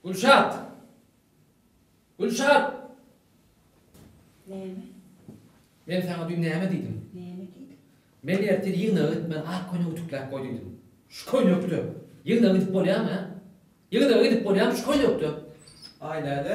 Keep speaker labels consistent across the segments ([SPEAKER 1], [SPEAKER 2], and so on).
[SPEAKER 1] Gülşat! Gülşat! Näme? Men saňa düýn näme diýdim? Näme diýdiň? Men ertir ýygnaga gitmän ak köýnek ütükläp goý diýdim. Şu köýnekde ýygnaga gidip bolýarmy, hä? Ýygnaga gidip bolýarmy şu köýnekde? Aý, näde?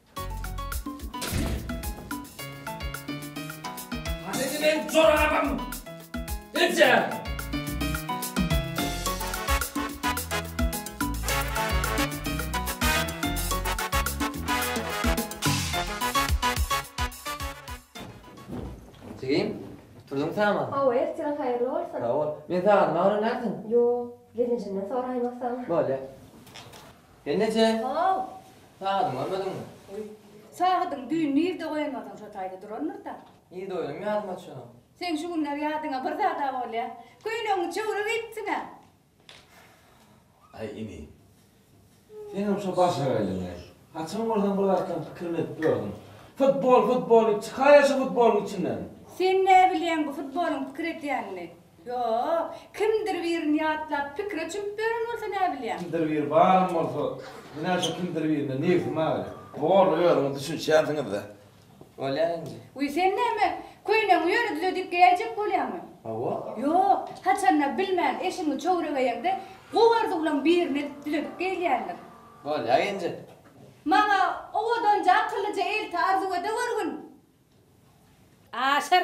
[SPEAKER 1] Jigim, turduň säma? Hawa, ertiriň haýyrly bolsun! Sag bol. Meni sagaldyma öwrenýärsiň? Ýok, gelinjimden soraýmasam. Bolýa. Hemmeje how! Sagydyňy görmediňmi? Oý, sagydyň düýn nirde goýandygyň şo taýda durandyr-da. Nirde goýanym ýadyma düşenok. Seň şu günler ýadyňa bir zad-a bolýa. Köýnegiňi çöwrüp iýipsiň-ä. Aý, ini. Senem şo başagaýlygyňy. Haçan bolsam bir zatlaryň pikirini edip ýörsüň. Futbol, futbol diýip çykaýa şu futbolyň içinden. Sen näbilýäň bu futbolyň pikir edýänini? Ýok, kimdir birini ýatlap, pikire çümüp ýören bolsa näbilýäň? Kimdir biri baram bolsa, ine şu kimdir birine nebsi maýyl. Boldy, özüňiz düşünişýänsiňiz-dä. Bolýar indi. Wiý, sen näme, köýnegiňi ýöne düzedip geýäýjek bolýaňmy? Hawa. Ýok, haçanda bilmän eşigiňi çöwregeýeňde, gowy arzuwlaň birini edip düzedip geýilýändir. Bolýar indi. Maňa owadanja, akyllyja elti arzuw edeweriň. Aşyr,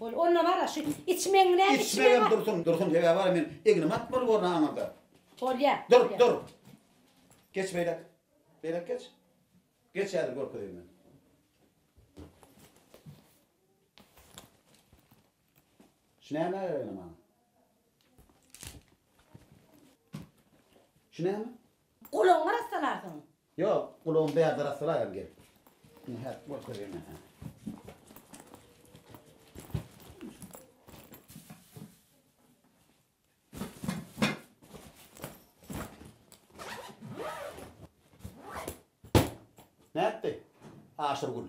[SPEAKER 1] Bol, onda bar-a, şu içmegiň näme içmegi bar? Içmegem dursun, dursun, sebäbi bar-a, men egnim at bolup orna aňyrda. Bolýa. Dur, dur. Geç beýläk. Beýläk geç. Geç häzir görkezeýin men. Şu näme ýaly maňa? Şu näme? Gulagyňy arassalarsyň. Ýok, gulagymy bärde arassalaýaryn gelip. Ine, häzir görkezýän ýa. Nätdi? Aşyrgül.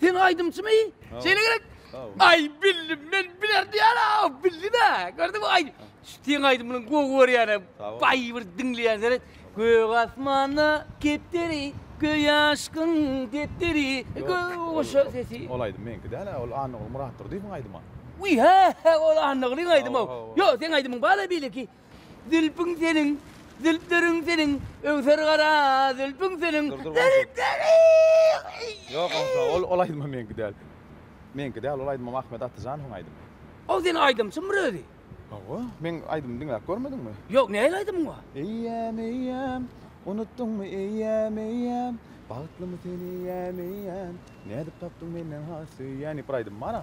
[SPEAKER 1] Sen aýdymçymy? Şeýle gerek. Aý bildim men biler diýär a bildi de. Gördüňmi aý. Sen aýdymyň gowy görýäne. Baý bir diňleýän seret. Gök asmanda kepderi göý aşkyň depderi. Goşa sesi. Ol aýdym meňki däl a ol Annagul Muratdurdyýewiň aýdyma. Wiý hä hä ol Annagulýyň aýdyma. Ýok seň aýdymyň bar a beýleki. Zülpüň seniň, zülpleriň seniň, Öwser gara zülpüň seniň, Zülpleriň! Ýok, onsoň ol, ol aýdymam meňki däl. Meňki däl, ol aýdymam Ahmet Atyjanowyň aýdymy. Ol seniň aýdymçyňmyr özi? Hawa, meň aýdymymy diňläp görmediňmi? Ýok, nähili aýdymyň bar? Eýýäm, eýýäm, unutdyňmy, eýýäm, eýýäm, Bagtlymy sen, eýýäm, eýýäm, Nädip tapdyň menden has söýýän diýip bir aýdymym bar-a.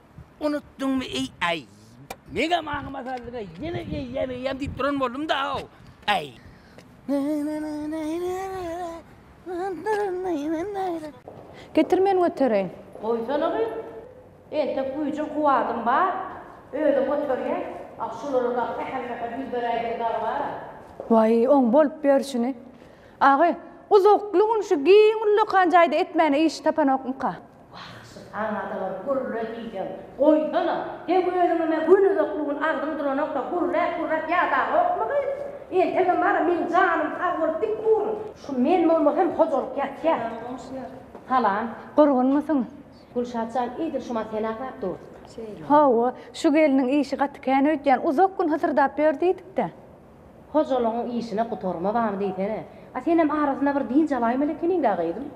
[SPEAKER 1] Unutdyňmy eý aý. Meňem aňyma saldyňa ýene eýýäm eýýäm diýip duran boldum da aw. Aý. Getir men götereýin. Goýsana gyz. Entek güýjüm kuwwatym bar. Özüm göterýän. Ah şulara dagy sähel sähel ýüz beräýdim dagy bara. Waý oň bolup ýörşüni. Agy, uzakly gün şu giň ullakan jaýda etmäne iş tapanokmyka? Wahşy taňadalar gürle diýseň goýsana. Heý özüňeme gün uzak bugün agzyň duranokda gürläp gürläp ýadagokmy gyz? Entegem bara meň janym sag bolup dik durun. Şu men bolmasam hojalyk ýatýa. Salam goňşular. Salam. Gurgunmysyň? Gülşat jan idil şuma sen aglap dur. Şeýle. Hawa, şu gelniň işi gaty kän öýtýän, uzak gün hysyrdap ýör diýdikdä. Hojalygyň işine gutarma barmy diýsene. A senem arasynda bir dynç alaýmaly ekeniň-dä gyzym.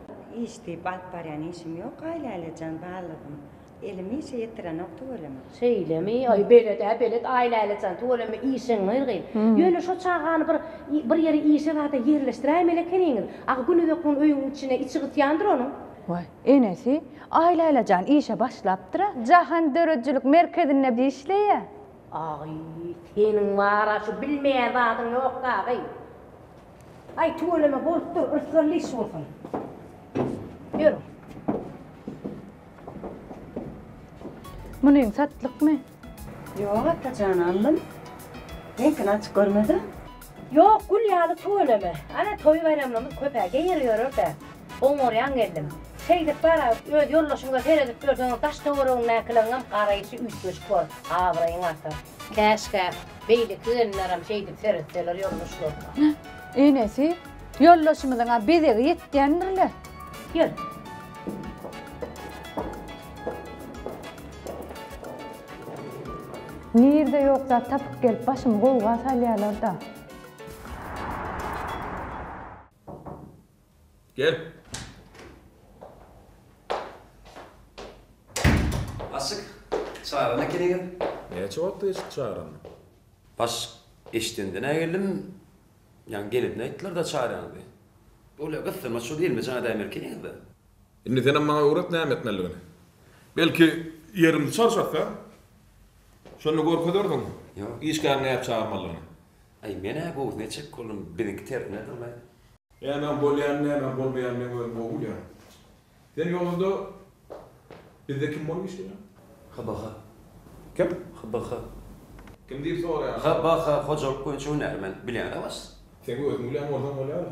[SPEAKER 1] Iş diýip alyp barýan işim ýok-aý Lälejan ballygym. Elim işe ýetirenok tüweleme. Şeýlemi? Aý belet-ä belet aý Lälejan tüweleme işiň yrgyn. Ýöne şo çagany bir bir ýere işe zada ýerleşdiräýmeli ekeniňiz. Agy günüzek gün öýüň içine içi gysýandyr onuň. Waý, enesi, aý Lälejan işe başlapdyr-a. Jahan döredijilik merkezinde işleýä. Agy, seniň bar-a şu bilmeýän zadyň ýokmy agy? Aý, tüweleme, bolup dur, yrsgynly iş bolsun. Ýör. Munyň satlykmy? Ýok, Atajan, aldym. Reňkini açyp görmedim. Ýok, gül ýaly tüweleme. Ana, toý-baýramlarymyz köp-ä, geýer ýörerkä. Oňarýan geldim. Şeýdip bar-a, öz ýoldaşyňyza seredip ýörseňiz, daş-töweregiňdäkileriňem garaýşy üýtgeşik bor, abraýyň artar. Käşgä, beýleki gelinlerem şeýdip seretseler ýoldaşlaryna. Heh, enesi, ýoldaşymyzyň-a bezegi ýetýändir-le. Ýör. Nirde ýok zat tapyp gelip başymy gowga salýalarda. Gel. Aşyk, çagyran eken eger. Näçe wagt geçdi çagrany? Baş eşidenden-ä geldim. Ýaňy geleninde aýtdylar-da çagranyňyzy. Bolýa gyssama şol elime jaň edäýmelik eňiz-de. Indi senem maňa öwret näme etmelidigini. Belki ýerimizi çalşakda, şonda görkezerdiň işgäriň nädip çagyrmalydygyny. Aý, men-ä gowy neçek bolum, biziňki tertine durlaý. Nämem bolýar, nämem bolmaýar, men özüm gowy bilýän. Sen ýolunda bizde kim bolup işleýäň? HBH. Kim? HBH. Kim diýip soraýaňmy? HBH, hojalyk boýunça hünärmen. Bilýän-ä başda. Sen özüň bilýän bolsaň bolýar-a.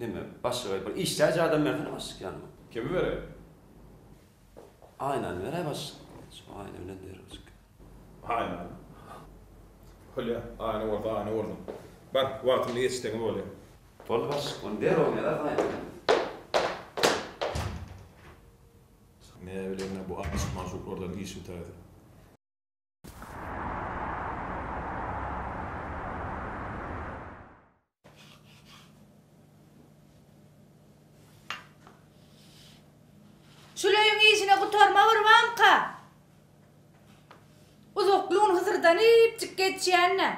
[SPEAKER 1] Neme, başlyga bir işdäji adam bersene başlyk ýanyma. Kimi bereý? Aýnany beräý başlyk. Şu Aýna bilen derňeşik. Aýnany? Bolýa, Aýna bolsa Aýna bolsun. Bar, wagtynda ýetişseňiz bolýa. Boldy başlyk, ony derrew ýazarys Aýna bilen. Näbileýin-ä, bu aşyk-magşuklardan iş bitäýse. Şul öýüň işine gutarma gurbanka! Uzaklygyny hysyrdanypjyk geçýän-ä.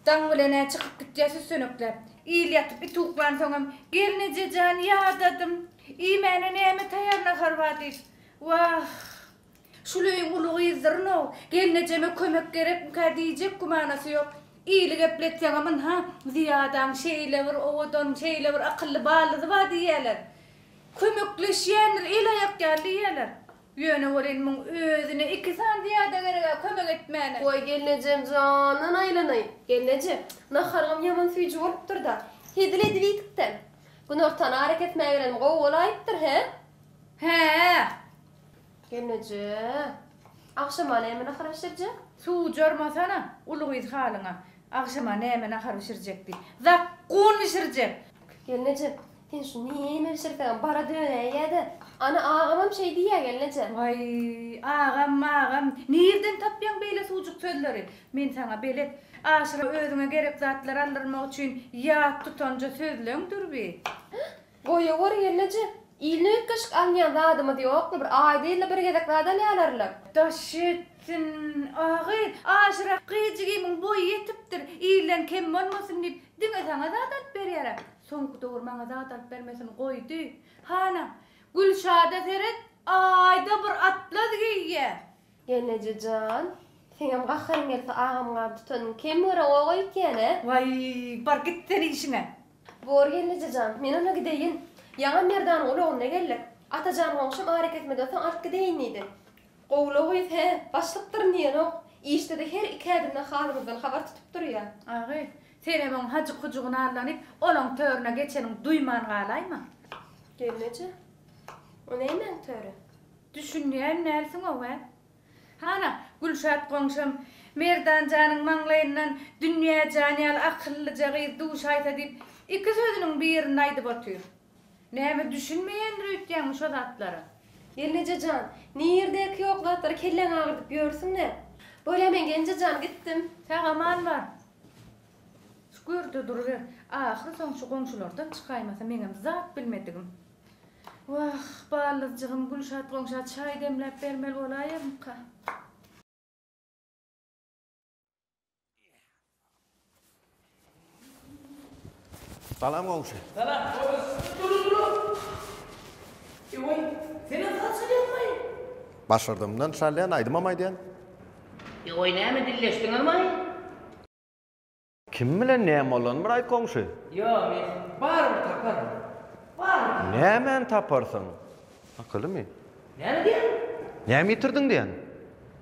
[SPEAKER 1] Daň bilen-ä çykyp gitýär süssenekläp. Il ýatyp, it uklansoňam, Gelneje jan, ýadadym. Iýmäne näme taýar naharba diýip. Wah! Şul öýüň uly gyzdyrynow, gelnejeme kömek gerekmikä diýjek gümanasy ýok. Ili gepletseňem, Ynha, Zyýadaň şeýle bir owadan, şeýle bir akylly balyzy bar diýýärler. Kömekleşýändir, el-aýak ýaly diýýärler. Ýöne welin muň özüne iki sany zyýada gereg-ä kömek etmäne. Goý, gelnejem jandan aýlanaýyn. Gelneje, naharyňam ýaman süýji bolupdyr-da. Hezil edip iýdik-dä. Günortan ara kesmägenem gowy bolaýypdyr, hä? Hä-ä. Gelneje, agşama näme nahar bişirjek? Suw jormasana, uly gyz halyňa. Agşama näme nahar bişirjek diý. Zakgun bişirjek. Gelneje, Sen şu nirme bişirseňem bara döneýin ýa-da. Ana agamam şeý diýýä gelneje. Waý, agam, magam, nirden tapýaň beýle suwjuk sözleri? Men saňa belet. Aşyra özüňe gerek zatlar aldyrmak üçin ýat tutanja sözleňdir bi. Goýaweri gelneje, iline üýtgeşik alynýan zadymyz ýokmy, bir aýda ýylda bir gezek zat alýalar-la. Daş etsin, a gyz, aşyra gyz jigimiň boýy ýetipdir, ilden kem bolmasyn diýip, diňe saňa zat alyp berýär-ä. Soňky dowur maňa zat alyp bermesini goýdy. Hana, Gülşada seret, Aýda bir atlaz geýýär. Eneje jan, seňem gaharyň gelse agam gap tutanyň kem görä goga ýitýän-ä. Waý, bar git sen işiňe. Bor gelneje jan, men onda gideýin. Ýaňam Merdanyň ulagynda geldik. Atajan goňşym arakesmede soň alyp gideýin diýdi. Gowulagy hä, başlykdyryn diýenok. Işde-de her iki ädimden halymyzdan habar tutup durýar. Agy, Senem oň hajyk-hujugyny allanyp, olaň törüne geçenini duýman galaýma. Gelneje? O nämäň töri? Düşünýän dälsiň-ow-ä? Hana, Gülşat goňşam, Merdan janyň maňlaýyndan Dünýäjan ýaly akyllyja gyz duşaýsa diýip, iki sözüniň birini aýdyp otyr. Näme, düşünmeýändir öýtýäňmi şo zatlara? Gelneje jan, nirdäki ýok zatlary kelläňi agyrdyp ýörsüň-dä? Bol-ä, men Genje jan, gitdim. Sag-aman bar. Şu görde duruber. Ahyry soň şu goňşulardan çykaýmasa meňem zat bilmedigim. Wah, ballyjygym, Gülşat goňşa çaý demläp bermeli bolaýarmyka? Salam goňşy. Salam goňşy siziň durun durun. Ewoý seniň haçan ýazmaýyň. Başardymdan çalýan aýdymam aýdýan. Ewoý näme dilleşdiňizmaý. Kim bilen näme bolan bir aýt goňşy. Ýok men barybir taparyn barybir taparyn. Nämäni taparsyň? Akylymy? Näme diýýäň? Näme ýitirdiň diýýän.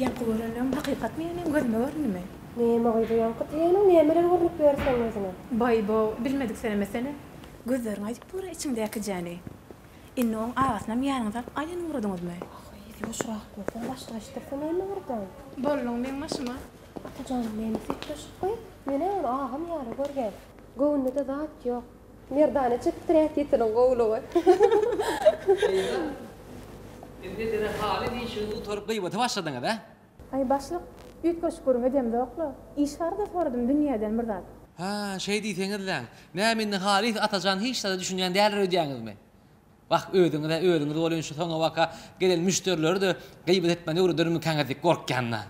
[SPEAKER 1] Ýaňky görenlerim hakykatmy ýa meň gözüme göründimi? Näme gyzy, ýaňky diýeniň nämeler görnüp ýör seň gözüňe? Baý-bo, bilmedik senemesene. Gözleriň aýdyp dur-a içiňdäkijäni. Indi oň agasynam ýanyňyza alyp gaýyny ugradyňyzmy? Ahyry ýuwaşrak gör, bir başga eşitdirse näme ardan? Bolduň meň başyma. Atajan meni süýtleşip goý, men-ä ony agam ýaly görýän. Göwnüde zat ýok. Merdana çykypdyr ätitiniň gowulygy. Eýýe-de. Siz edere haly diýşiňizi gutaryp gybata başladyňyz, ä? Aý, başlyk, üýtgeşik gürrüň edemzok-la. Iş barada soradym dünýeden bir zat. Hä, şeý diýseňiz-läň. Näme indi, halys, Atajan hiç zada düşünýän däldir öýdýäňizmi? Wah, özüňiz-ä özüňiz bolýan şu soňabaka gelen müşderileri-de gybbat etmän öwredermikäňiz diýip gorkýan-da.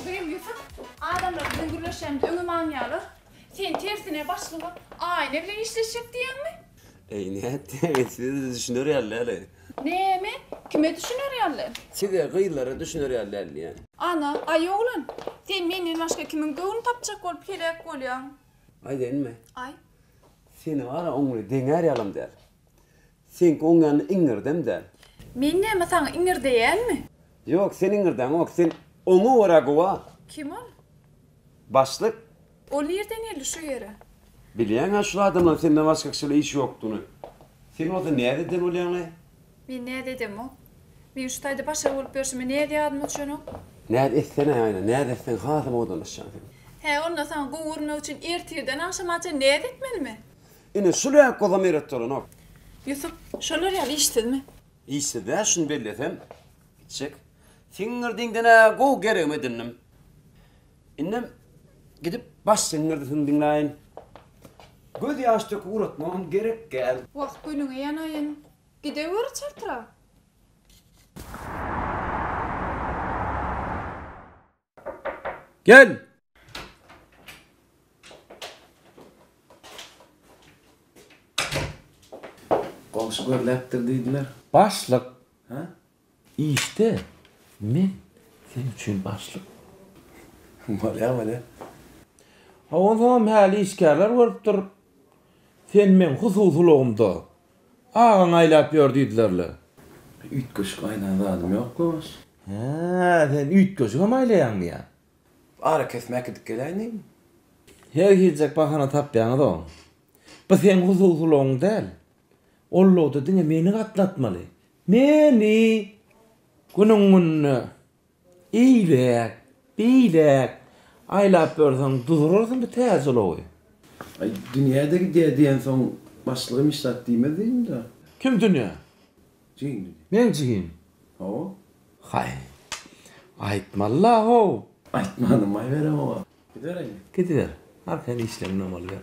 [SPEAKER 1] Gürem Ýusup, adamlar biziň gürleşýänimizi öňem aňýarlar. Sen tersine başlyga aýna bilen işleşjek diýýäňmi? Eý nätdiň size düşüner ýaly däli. Näme? Kime düşüner ýaly? Size gyzlara düşüner ýaly däli. Ana, aý oglan, sen menden başga kimiň göwnüni tapjak bolup heläk bolýaň? Aýdaýynmy? Aý. Seni bara oňly deňär ýalam däl. Seňki oň ýaly iňňirdem däl. Men näme saňa iňirdeýänmi? Ýok, sen iňirdeýäňok, sen oňa görä gowa. Kim ol? Başlyk. Ol nirden geldi şu ýere? Bilýäňä şul adamlaň senden başga kişi bilen işi ýokdugyny. Sen bolsa näz eden bolýaňlaý? Men näz edemok. Men şu taýda başga bolup ýörşüme näz ýadyma düşenok. Näz etsene, aýna, näz etseň hasam owadanlaşýaň sen. Hä, onda saňa gowy görünmek üçin ertirden agşama çen näz etmelimi? Ine, şul ýa gozam eretdi bolanok. Ýusup, şolar ýaly işsizmi? Işsiz-dä, şuny bellesem, itjek. Siňňirdiňden-ä gowy geregimi edindim. Indem gidip baş siňňirdisin diňlaýyn. Göz ýaş döküp uratmagam gerek gäl. Wah gülüňe ýanaýyn. Gideweri çyrtyra. Gel! Goňşy görläpdir diýdiler. Başlyk! Hä? Işde men sen üçin başlyk bolýan welin. Hawa onsoňam häli işgärler görüp dur. Sen meň hususylygymda agaň aýlap ýör diýdiler-le. Üýtgeşik aýlan zadym ýok Gowaş. Hä, sen üýtgeşigem aýlaýaňmy ýa? Arakesmä gidip geläýdiň. Her hiljek bahana tapýaňyz-ow. Bu seň hususylygyň däl. Ollowda diňe meni gatnatmaly. Meni! Günüň-gününe eýläk, beýläk aýlap ýörseň, duzurarsyň bu täze ulowy. Aý, Dünýä-de gidýär diýensoň, başlygym hiç zat diýmez diýdim-dä. Kim Dünýä? Jigim diýdi. Meň jigim? Hawa. Haý, aýtmaly-la-how! Aýtmanym, aýberem oňa. Gidiber indi. Gidiber. Arkaýyn işleňden bolýar.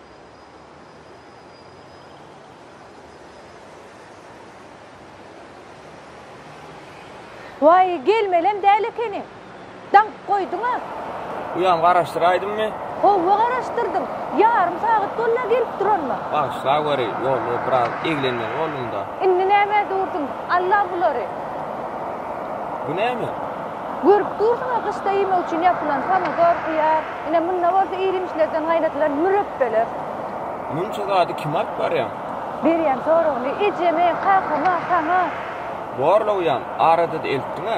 [SPEAKER 1] Waý, gelmelem däl ekeniň. Daňk goýduň-a. Uýam garaşdyraýdymmy? Howwa garaşdyrdym. Ýarym sagat boldy-a gelip duranyma. Bagyşlaweri, ýolda biraz eglenmeli boldum-da. Indi nämä durdyň? Al-la bulary. Bu näme? Görüp dursuň-a gyşda iýmek üçin ýapylan pomidor, hyýar. Ine, munda bolsa iýrimçilikden gaýnadylan mürepbeler. Munça zady kime alyp barýaň? Berýän soragyny ejeme, kakama, saňa. Borlawýan, arada-da eltdiň-ä.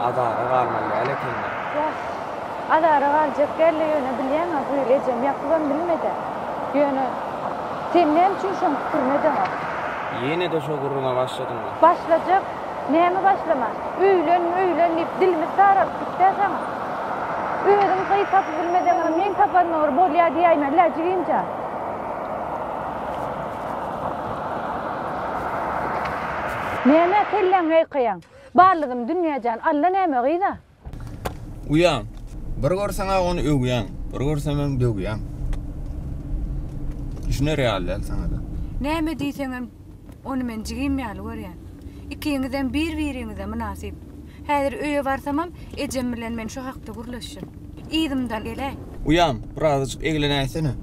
[SPEAKER 1] Azara galmaly däl ekeni. Ýas, azara galjak däl-le, ýöne bilýäň-ä, bu ýyl ejem ýakybam bilmedi-ä. Ýöne sen näme üçin şoň pikirine deňok? Ýene-de şo gürrüňe başladyňmy? Başlajak. Näme başlama? Öýlen, öýlen diýip dilimiz saralyp gitdä saňa. Özüň gyz tapyp bilmeseňem, men tapanma bir bolýa diýäýme, läjigimja. Näme kelläňi ýaýkaýaň? Ballydym Dünýäjan, Alla näme gyz-a? Uýam, bir görseň-ä ony öwýäň, bir görsem hem döwýäň. Düşüner ýaly däl saňa-da. Näme diýseňem, ony men jigim ýaly görýän. Ikiňizem bir-biriňize mynasyp. Häzir öýe barsamam, ejem bilen men şu hakda gürleşjek. yzymdan gele. Uýam, birazajyk eglenäýsene.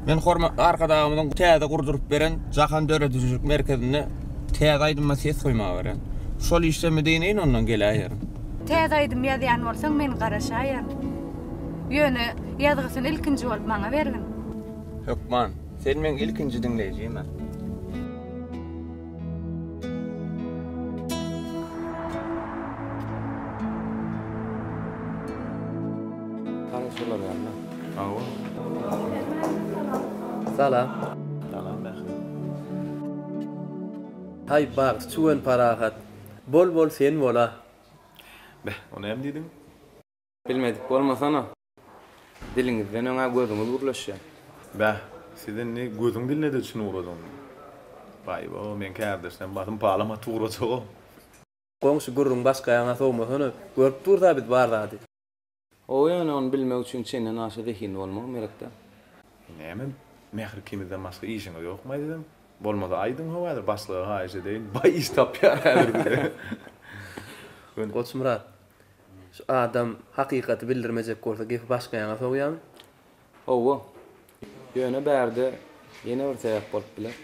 [SPEAKER 1] Men hormatly Arkadagymyzyň täze gurduryp beren Jahan döredijilik merkezinde täze aýdyma ses goýmaga barýan. Şol işde müdinýin ondan geläýerin. Täze aýdym ýazýan bolsaň men garaşaýan. Ýöne ýazgysyny ilkinji bolup maňa bergin. Hökman. Sen meň ilkinji diňleýjimä. Salam. Salam Mähri. Haý bagt çüwen parahat. Bol bol sen bola. Beh, o näme diýdiň? Bilmedik bolmasana. Diliňizden öňä gözüňiz gürleşýär. Bäh, siz indi gözüň diline-de çyn ugradyň. Baý-bo, meň kärdeşlem basym palam atyp ugrajag-ow. Goňşy gürrüň başga ýaňa sowmasana. Görüp durus-a biz bar zady. Ow, ýöne ony bilmek üçin çenden aşa zehinli bolmagam gerek-dä. Näme, mähir ikimizden başga işiňiz ýokmaý siziň? Bolmasa aýdyň-how häzir, başlyga haýyş edeýin, baý iş tapýar häzir size. Goçmyrat, Şu adam hakykaty bildirmejek bolsa gepi başga ýaňa sowýaň. Howwa. Ýöne bärde ýene bir sebäp bolup biler.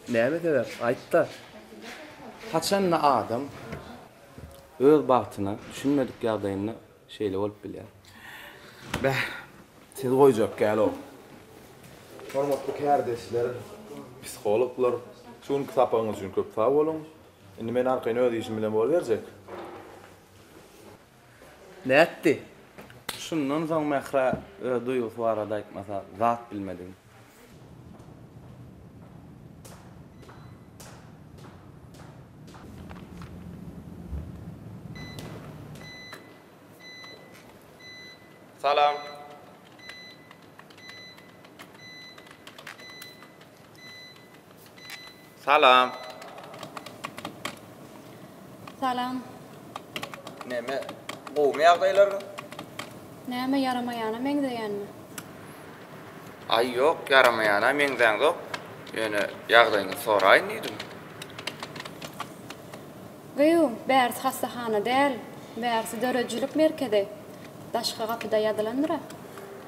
[SPEAKER 1] Näme sebäp? Aýt-da. Haçanda adam öz bagtyna düşünmedik ýagdaýynda şeýle bolup bilýär. Beh, siz goýjak däl-ow. Hormatly kärdeşler, psihologlar, şu günki sapagyňyz üçin köp sag boluň. Indi men arkaýyn öz işim bilen boluberjek. Nätdi? Şundan soň Mährä öz duýgusy barada aýtmasa zat bilmedigim. Salam. Salam. Salam. Neme, gowumy ýagdaýlaryň? Näme, ýaramaýana meňzeýänmi? Aý, ýok, ýaramaýana meňzäňzok. Ýöne ýagdaýyňyzy soraýyn diýdim. Gyýw, bärsi hassahana däl, bärsi döredijilik merkezi. Daşky gapyda ýazylandyr-a.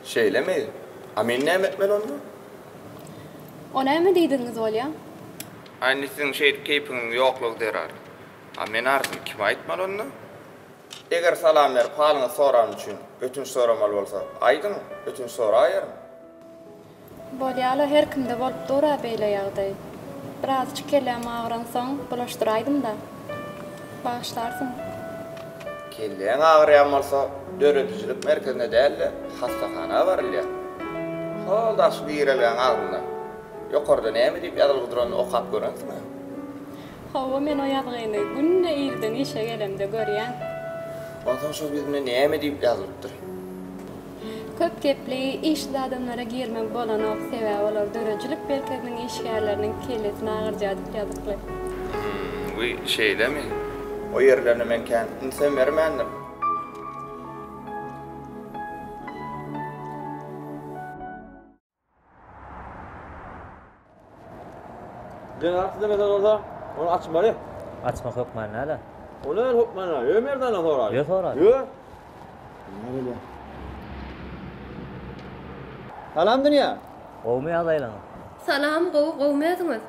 [SPEAKER 1] Şeýlemi? A men näme etmeli onda? O näme diýdigiňiz bolýa? A indi siziň şeýdip keýpiňiziň ýoklugy zerar. A men arzymy kime aýtmaly onda? Eger salam berip halyňyzy soran üçin ötünç soramaly bolsa, aýdyň, ötünç soraýaryn. Bolýa-la, her kimde bolup dur-a beýle ýagdaý. Birazajyk kelläm agyransoň, bulaşdyraýdym-da. Bagyşlarsyň. Kelläň agyrýan bolsa, döredijilik merkezine däl-de, hassahana barylýar. Hol daş girelgäň agzynda, ýokarda näme diýip ýazylgy duranyny okap görensiň-ä? Hawa, men o ýazgyny günde irden işe gelemde görýän. Onsoň şol ýüzünde näme diýip ýazylypdyr? Köp gepli, işsiz adamlara girmegi bolanok, sebäbi olar döredijilik merkeziniň işgärleriniň kellesini agyrjadyp ýazykly. Hmmm bu şeýlemi. O ýerlerine men kän ünsem bermändim. Zenan islemese bolsa, ony açmaly. Açmak hökman näle? Ony öl hökman näle? Ýö Merdandan soraýyn. Ýö sora. Ýö. Näle? Salam dünýä. Gowumy ýagdaýlaryň? Salam, gowy, gowumy özüňiz?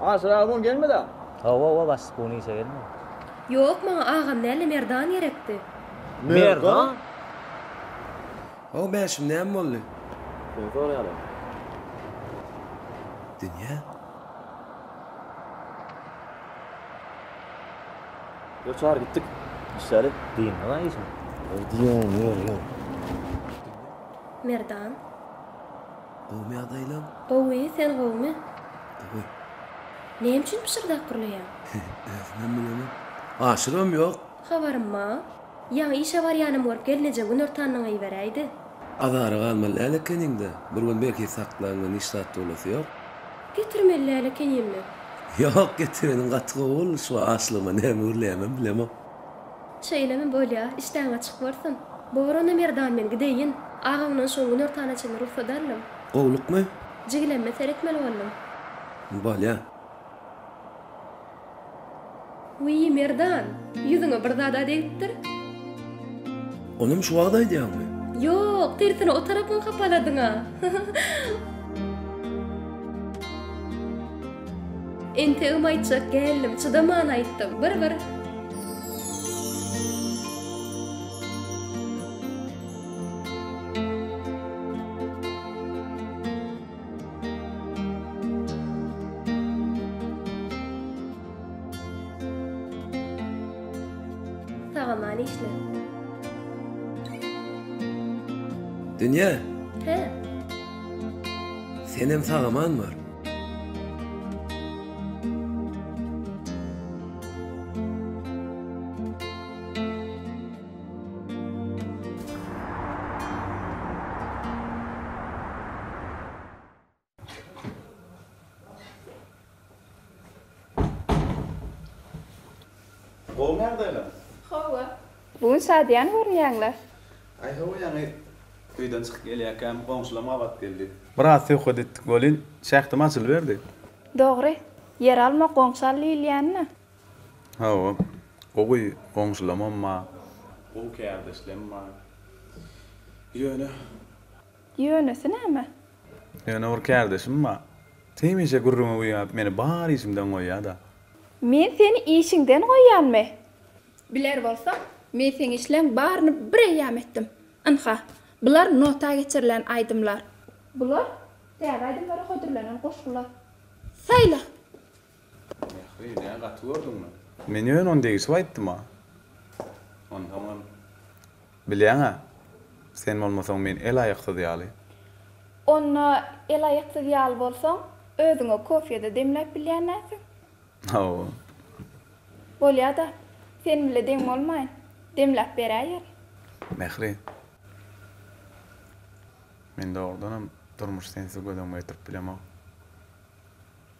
[SPEAKER 1] Aşyraga bun gelmedi-ä? Hawa, hawa, başlyk bun işe gelmedi. Ýok, maňa agam näle Merdan gerekdi. Merdan? Hawa, bäşim, näme boldy? Seni soraýarlar. Dünýä? Ýör, çagyr, gitdik. Işläli. Dynma-a işiňi. Ýör, diýýän, ýör, ýör. Merdan. Gowumy ýagdaýlaň? Gowy, sen gowumy? Gowy. Näme üçin pyşyrdap gürleýäň? Özümem bilemok. Aşygam ýok. Habarym ma. Ýaňy işe barýanym görüp gelneje günortanyňy iberäýdi. Azara galmaly däl ekeniň-dä. Bir gün belki saklaňda niş zat bolasy ýok. Getirmeli däl ekenim-le. Ýok, getireniň gaty gowy boldy. Şu açlygyma näme gürleýämem bilemok. Şeýlemi bolýa. Işdäň açyk bolsun. Bor onda Merdan men gideýin. Agaňdan şoň günortana çenli rugsat aldym. Gowlukmy? Jigilemime seretmeli boldum. Bolýa. Wiý, Merdan, ýüzüňe bir zad-a degipdir? Onam şu wagt aýdýaňmy? Ýok, tersine o tarapyňy hapaladyň-a. Entegem aýtjak geldim, çydaman aýtdym. Bir-bir. Sagaman işle. Dünýe. Hä. Senem sagaman bar. Gowymy ýagdaýlar? Hawa. Bu gün şadyýan görünýäňler. Aý hawa ýaňy öýden çykyp gelýäkäm goňşulam gabat geldi. Biraz söhbet etdik welin, şähdim açylyberdi. Dogry. Ýer alma, goňşy al diýilýänmi? Hawa, gowy goňşulamam bar, gowy kärdeşlem bar. Ýöne. Ýönesi näme? Ýöne bir kärdeşim bar. Hemişe gürrüňi güýäp, meni bar işimden goýýa-da. Men seni işiňden goýýanmy? Biler bolsaň, men seň işleň baryny bir eýýäm etdim. Ynha, bular nota geçirilen aýdymlar. Bular täze aýdymlara hödürlenen goşgular. Saýla! Mähri, näme gaty gördüňmi? Men ýöne ony degişip aýtdym-a. Onsoňam. Bilýäň-ä, sen bolmasaň men el-aýaksyz ýaly. Onda el-aýaksyz ýaly bolsaň, özüňe kofýe-de demläp bilýänäsiň. Hawa. Bolýa-da, sen bile deň bolmaýyn, demläp beräýerin. Mähri, men dogrudanam durmuşy sensiz göz öňüme getirip bilemok.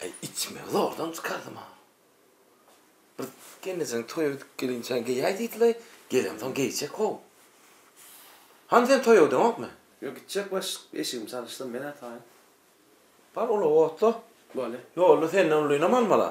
[SPEAKER 1] Eý, içmegi zordan çykardym-a. Bir gelnejeň toýa gidip gelinçäň geýäý diýdilaý, gelemsoň geýjek-ow. Hany sen toýa gideňokmy? Ýok, gitjek baş, eşigimi çalyşsam men-ä taýyn. Bar, ulagy otla. Bolýa. Ýolda senden ulynam almal-a.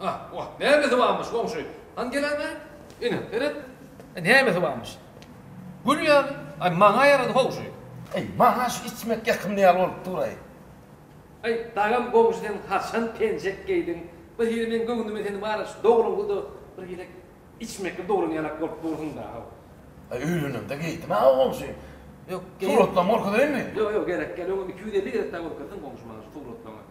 [SPEAKER 1] Ah, wah, nämesi barmyş, goňşy? Hany geläýmäý. Ine, seret. E, nämesi barmyş? Gül ýaly. Aý, maňa ýarady, howşy. Eý, maňa şu içmek ýakymly ýaly bolup dur-aý. Aý, dagam, goňşy, sen haçan penjek geýdiň? Bir hili meň göwnüme seni bary şu dogruňdy-da, bir gezek içmekli dogran ýalak bolup dursuň-da-aw. Aý, öýlenemde geýdim-ä, goňşy. Ýok, geý. Suratlaryňy görkezeýinmi? Ýok, ýok, gerek, gel, öňem iki ýüz elli gezek dagy görkezdiň, goňşy, maňa şu suratlaryňy.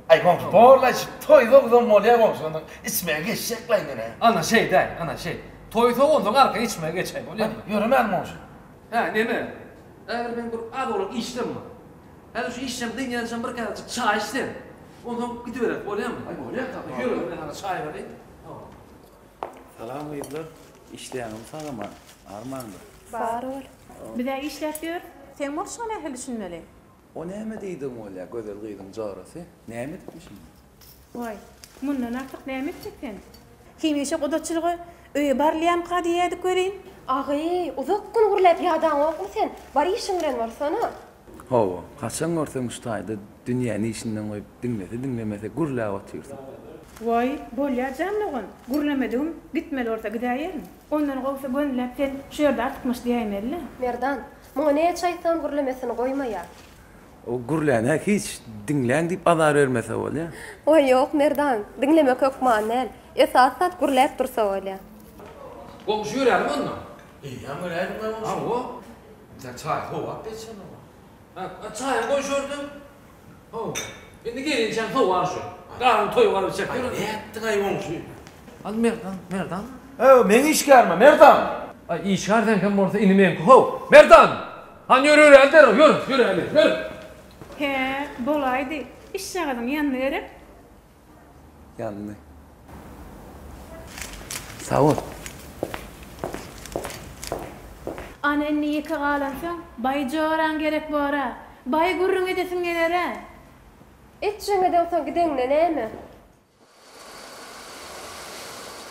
[SPEAKER 1] Aý goňşy borlaý şu toý sowuzam bolýa goňşularyň içmegi geçjek laý menä. Ana şeý däl ana şeý. Toý sowuzlyň arka içmegi geçäý bolýa mı. Ýöremäň goňşy. Hä neme. Häzir meň bir az owlak işlem bar. Häzir şu işlem dynýançam bir käwejik çaý iç sen. Onsoň gidibereris bolýa mı. Aý bolýa kaka ýöre men saňa çaý bereyim. Howwa. Salam gyzlar. Işleýäňizmi sagaman? Barmanda. Bar ol. Bizä işläp ýör. Seň bolşuňa nähili düşünmeli. O näme diýdigiň bolýa gözel gyzyň jorasy näme edipmiş indi. Waý, mundan artyk näme etjek sen. Hemişe gudaçylyga öýe barylýamyka diýýädik welin. Agy, uzak gün gürläp ýadaňokmy sen, bar işiň bilen barsana. Hawa, haçan görseň şu taýda dünýäni işinden goýup diňlese diňlemese gürläp otyrsyň. Waý, bolýa jan dogan, gürlemedigim, gitmeli bolsa gidäýerin. Ondan gowusy gönüläp sen şu ýerde artykmaç diýäýmeli-le. Merdan, Muňa näçe aýtsaňam gürlemesini goýmaýar. O gürlänä hiç, diňläň diýip azar bermese bolýa. Waý ýok Merdan, diňlemek hökman däl. Esasy zat gürläp dursa bolýa. Goňşy göräýliň onda. Eýýäm göräýliň goňşy. Hawa. Çaý sowap bersene oňa. Çaýam goý şordan. How, indi gelinçäň sowar şu. Garnyň toýuňar içek ýören. Nätdiň-aý goňşy? Al Merdan, Merdan. How, meň işgärime, Merdan! Aý, işgär seňkem bolsa ini meňki how. Merdan! Hany ýör, ýöräli derrew, ýör, ýöräli, ýör! Hä, bolaýdy. Işjagazyň ýanyna gerek. Geldi. Sag bol. Ana indi ýeke galansoň, baý joraň gerek bor-a. Baý gürrüň edesiň geler-ä. Etjegiňeden soň gideňde näme?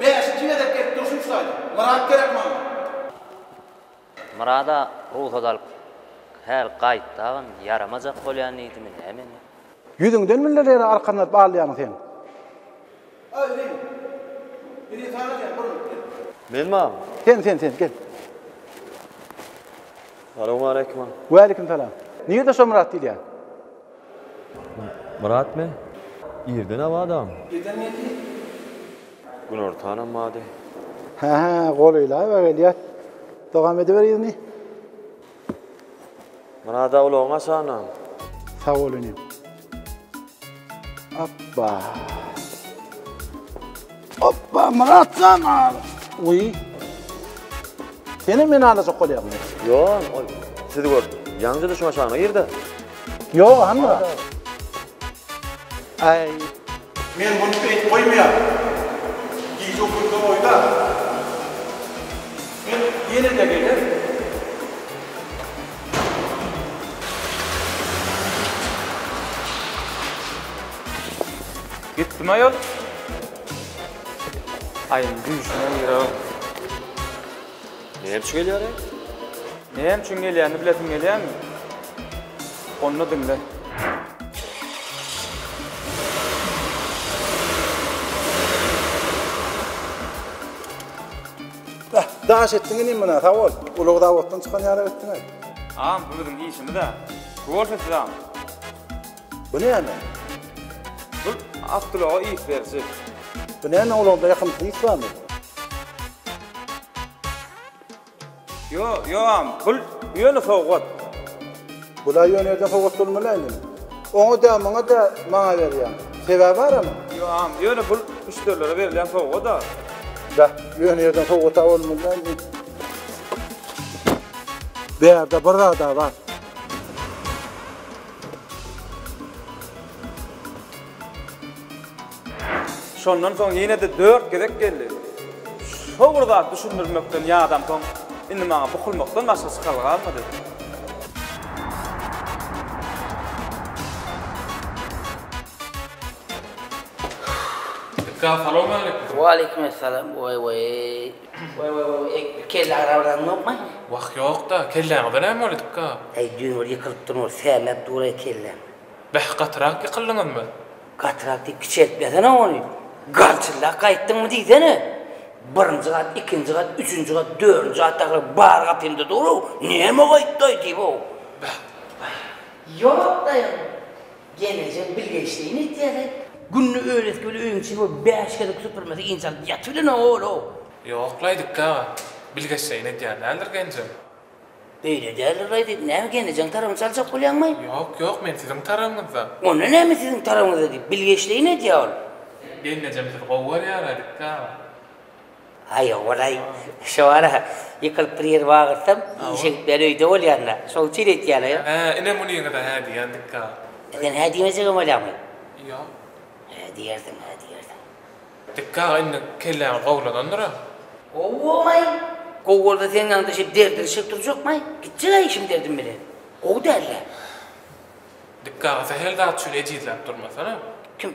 [SPEAKER 1] Bäşinji gezek gelip durşum şu taýda. Myrat gerek maňa. Myrada rugsat alyp häl gaýt dagyn ýaramajak bolýan diýdimi näme indi. Ýüzüňden millerere arkan berip alýaň sen. Aýryň. Biri sana diýen bir minut gel. Men bamy. Sen sen sen gel. Salowmaleýkim. Waleýkim salam. Nirde şo Myrat diýilýän. Myrat me? Irden abadam. Irden geldi. Günortanam bady. Hä-hä, golylaýba gelýär. Dogam ediber yzyny. Myrada ulagyň açanam. Sag bol inim. Opba! Hoppa, Myrat jan al. Uý. Senem meni alajak bolýarmy? Ýoon, ol sizi görüp, ýaňja düşüň aşagyna girdi. Ýo, handa. Aý. Men muny beýt goýmaýan. Gije ukulda oýda. Men ýene-de gelen. Gitdim aýol. Aýyň düýşüne girerem. Näme üçin gelýär aý? Näme üçin gelýänini bilesiň gelýärmi? Onda diňle. Bäh, daş etdiň inim munä, sag bol. Ulag zawoddan çykan ýaly etdiň-aý. Agam, bu biziň işimiz-ä. Gowy bolsa sizem. Bu näme? Bu awtoulaga yz beriji. Bu näme ulagda ýakymsy ys barmy? Ýo, ýoam, bul ýöne sowgat. Bula ýöne ýerden sowgat bolmalaý indi. Oňa dä, muňa dä maňa berýäň. Sebäbi bara muň? Ýoam, ýöne bul müşderilere berilýän sowgat-a. Bäh, ýöne ýerden sowgat-a bolmalaý indi. Bu ýerde bir zad-a bar. Şondan soň ýene-de dört gezek geldi. Şo bir zat düşündirmekden ýadamsoň, indi maňa bukulmakdan başga çykalga galmady. Salam aleykum. Waleýkumessalam. Weý-weý. Waý waý waý eý bir kelle arabaňyz ýokmy? Wah ýokda, kelläňize näme bolýadyka? Eý düýn bir ýykylyp durmyş, sämäp dur-aý kelläň. Bäh gatyrak ýykyldyňyzmy? Gatyrak diýip kiçeltmesene ony. Garçyllap gaýtdyňmy diýsene. Birinji gat, ikinji gat, üçünji gat, dördünji gatdakylar bar gapymda dur-ow, näme gaýtdy-aý diýip-ow. Bäh, bäh. Ýok daýaň. Gelneje bilgeşleýin etýäge. Günde öýlesik bilen öýüň içini we bäş gezek süpürmesi inçe alyp ýatybilenok ol-ow. Ýok Laýdyk aga, bilgeşleýin edýän däldir genjem. Beýle däldir Laýdyk, näme gelnejeň tarabyny çaljak bolýaňmy? Ýok, ýok, men siziň tarabyňyzda. Onda näme siziň tarabyňyzda diýip, bilgeşleýin edýä ol. Gelnejem sizi gowy görýär Laýdyk aga. Aý, ogulaý, şo wara ýykylyp bir ýer wagyrsam, işe gitmän öýde bolýan-da. Şoň üçin öýtýän-ä. Hä, ine muny ýene-de hä diýendik-ka. Sen hä diýmejegem bolýaňmy? Ýok. Hä diýersiň, hä diýersiň. Dikga, indi kelläňi gowulanandyr-a? Gowaý! Gowy bolsa seň ýanyňda şeýdip derdiňi çekip durjakmaý. Gitjeg-ä işim derdim bilen. Gowy däl-dä. Dikga, sähel zat üçin ejizläp durmasana. Kim?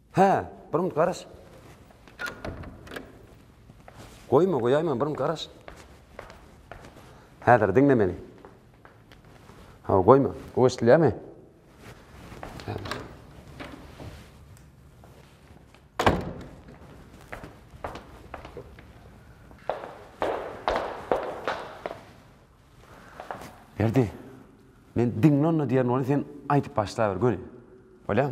[SPEAKER 1] Hä, bir minut garaş. Goýma, goýaýman, bir minut garaş. Häzir diňle meni. Hawa, goýma. Bu eşidilýärmi? Berdi. Men diňle onda diýen ony sen aýdyp başlaber göni. Bolýar?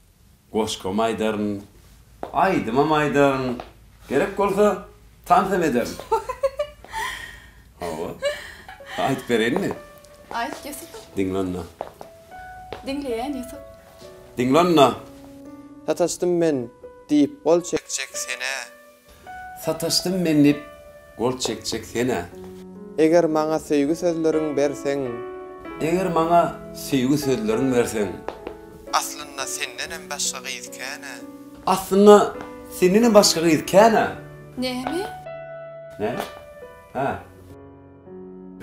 [SPEAKER 1] Goşgam aýdaryn, aýdymam aýdaryn, gerek bolsa, tans hem ederin. Hawa. Aýdyp bereýinmi? Aýt, Ýusup. Diňle onda. Diňleýän, Ýusup. Diňle onda. Sataşdym men, diýip gol çekjek senä. Sataşdym men dip gol çekjek senä. Eger maňa söýgi sözleriň berseň. Eger maňa söýgi sözleriň berseň. Aslynda sendenem başga gyz känä. Aslynda sendenem başga gyz känä. Näme? Näme? Hä.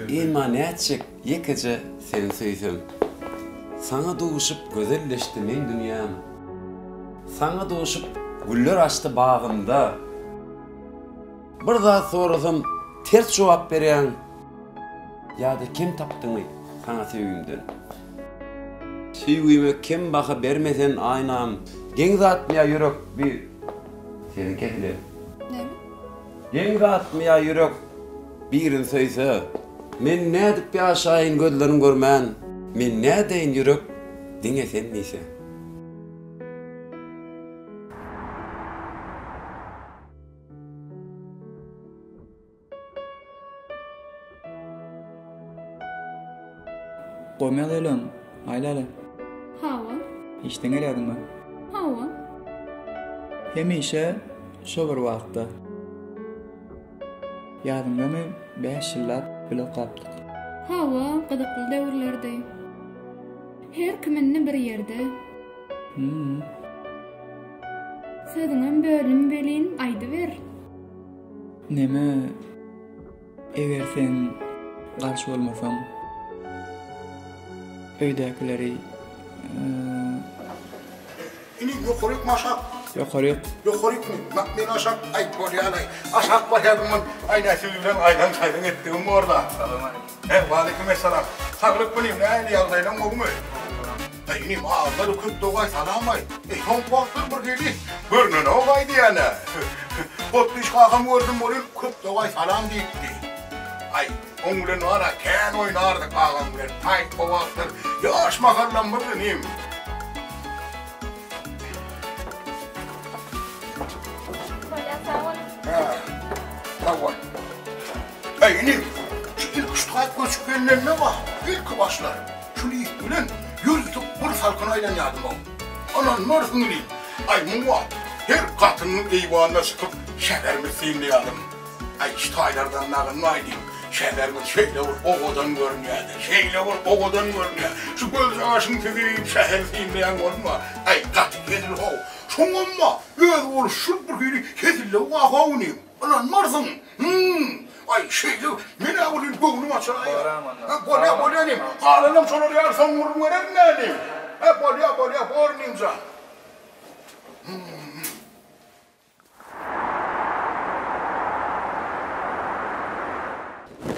[SPEAKER 1] Emma nätjek ýekeje seni söýsem. Saňa duşup gözelleşdi meň dünýäm. Saňa duşup güller açdy bagymda. Bir zat sorasam ters jogap berýäň. Ýa-da kem tapdyňy saňa söýgimden. Söýgime kem baha berme sen aýnam. Geň zatmy ýa ýürek bir seniňki edile. Geň zatmy ýa ýürek. Birin söýse, men nädip ýaşaýyn gözlerin görmän. Men nädeýin ýürek diňe sen diýse. Goýmaýa gelýäňmi? Aýlaly. Hawa. Işden gelýädiňmi? Hawa. Hemişe şo bir wagtda. Ýadyňdamy, bäş ýyllap bile okapdyk. Hawa, gyzykly döwürlerdi. Her kim indi bir ýerde. Hum. Sözüňem böldüm welin, aýdyber. Neme, eger sen garşy bolmasaň, öýdäkileri, Ini ýokaryk my aşak. Ýokaryk. Ýokaryk my? Mak meni aşak aýt bolýalaý. Aşak barýaryn men. Aý nä siz bilen aýdan saýdan etdigim borla. Salam aleýkum. He waleýkim essalam. Saglyk inim nähili ýagdaýlaň gowumy? Aý inim azlary köp dogaý salam aýt. Eý soňky wagtlar bir hili görnenok aýdýana. Potpyşkakam gördüm welin köp dogaý salam diýipdi. Aý. Oň bilen ana kän oýnardyk agam bilen. Paýtga wagtlar ýaş mahallam bir inim. Bolýa sag bol. Hä. Sag bol. Heý inim. Şu ilki şu taýt göçüp gelnende wah, ilki başlar. Şul it bilen ýüz tutup bir salkyn aýlanýardym oň. Anan mörziň inim. Aý muňa her gatynyň eýwanyna çykyp şäherimi synlaýardym. Aý şu taýlardan nagynmaý diýip, şäherimiz şeýle bir owadan görünýär-de, şeýle bir owadan görünýär. Şu gözýaşyň süzüp, şäheri synlaýan bolma. Aý, gaty hezil-how. Şoňam-a, özi boluş şul bir hili hezillew-a-how inim. Ynanmarsyň. Hum. Aý, şeýle, men-ä bir hili göwnüm açylaýýar. Hä, bolýa, bolýa inim. Galanam şolar ýaly soň gürrüň bererin-dä inim. Hä, bolýa, bolýa, bor inim jan. Hum.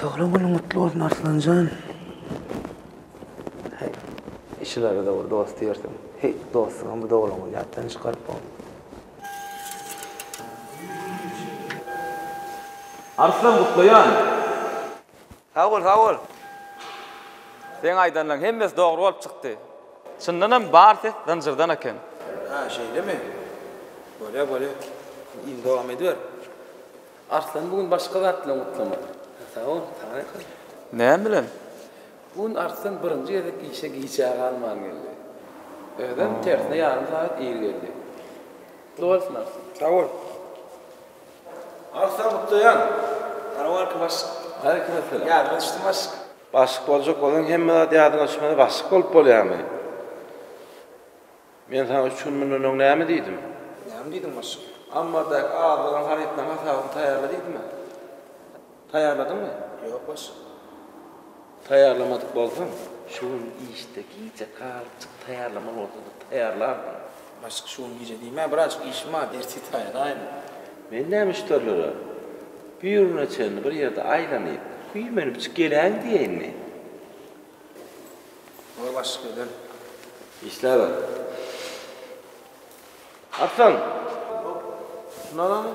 [SPEAKER 1] Doglan günüň gutly bolsun Arslanjan. Heý, işilerde-de bir dost diýersiň. Heý, dostuňam bu doglan güni ýatdan çykaryp bolan. Arslan gutlaýan! Sag bol sag bol. Seň aýdanlaň hemmesi dogry bolup çykdy. Çyndan hem bar ses zynjyrdan eken. Hä şeýlemi? Bolýa bolýa. Yzy dowam ediber. Arslan bu gün başga zat bilen gutlamady. Hä sag bol saňa ýakyn. Näme bilen? Bu gün Arslan birinji gezek işe giçä galman geldi. Özem tersine ýarym sagat ir geldi. Gutly bolsun Arslan. Sag bol. Agsa gutlaýan. Sarawalkim Başyk. Aleýkim essalam. Ýadyňa düşdüm Başyk. Başyk boljak bolsaň hemme zat ýadyňa düşmese başyk bolup bolýamy? Men saňa üç gün mundan öň näme diýdim? Näme diýdiň Başyk? Ammardaky azlygyň harytlaryň hasabyny taýýarla diýdim-ä. Taýýarladyňmy? Ýok, başlyk. Taýýarlamadyk bolsaň, şu gün işde gijä galypjyk taýýarlamaly bolsa-da taýýarlardyň. Başlyk, şu gün gije diýme, birazajyk işim bar, ertir taýýarlaýyn. Men näme müşderilere bir güne çenli bir ýerde aýlanyp, güýmenipjik geläýin diýeýinmi? Bor, başlyk, öýden. Işläber. Arslan! Hop, şuny alalyň.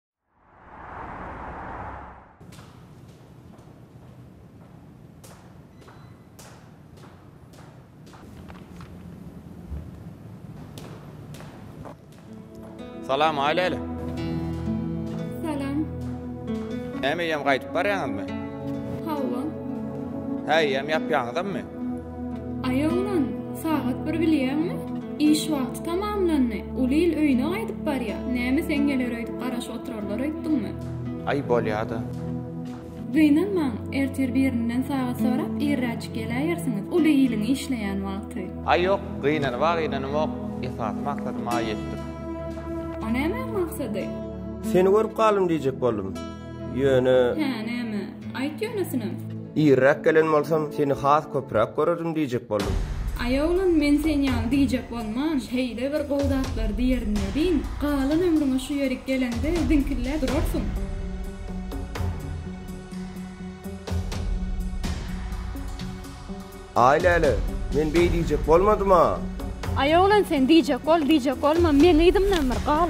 [SPEAKER 1] Salam aýlaýly. Salam. Näme ýem gaýdyp barýaňyzmy? Hawa. Häý, ýem ýapýaňyzmy? Aý oglan, sagat bir bilýäňmi? Iş wagty tamamlandy. Uly il öýüne gaýdyp barýa. Näme seň geler öýdüp garaşyp oturarlar öýtdüňmi? Aý bolýa-da. Gynanmaň, ertir birinden sagat sorap irräçik geläýersiňiz. Uly iliň işleýän wagty. Aý ýok, gynanyba gynanymok. Esasy maksadyma ýetdik. O nämäň maksady? Seni görüp galym diýjek boldum. Ýöne. Hä, näme? Aýt ýönesinem. Irräk gelen bolsam, seni has köpräk görerin diýjek boldum. Aý oglan, men sen ýaly diýjek bolman, şeýle bir gowy zatlar diýerin welin, galan ömrüňe şu ýerik geleňde ziňkilläp durarsyň. Aý läle, men beý diýjek bolmadym-a! Aý oglan, sen diýjek bol, diýjek bolma, meň yzymdan bir gal.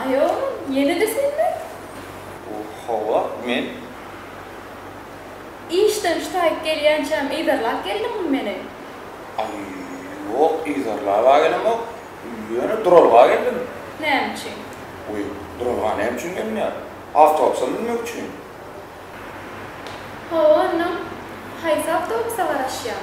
[SPEAKER 1] Aý oglum, ýene-de senmi? Hawa, men. Işden şutaýyp gelýänçäm yzarlap geldiňmi meni? Aý, ýok, yzarlab-a gelemok. Ýöne duralga geldim. Näme üçin? Wiý, duralga näme üçin gelinýär? Awtobusa münmek üçin. Hawa, onnoň, haýsy awtobusa garaşýaň?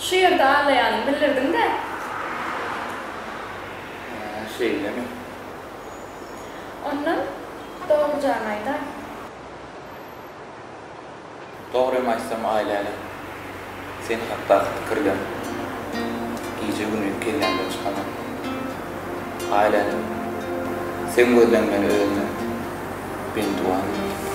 [SPEAKER 1] Şu ýerde aglaýanymy bildirdiň-dä? Hä, şeýlemi? Ondan dogry jany aýdaý. Dogrym aýtsam, Aýläne, sen hakdaky pikirler gije-gündiz kellämden çykanok. Aýläne, seň gözleň meni özüne bendiwan edipdir.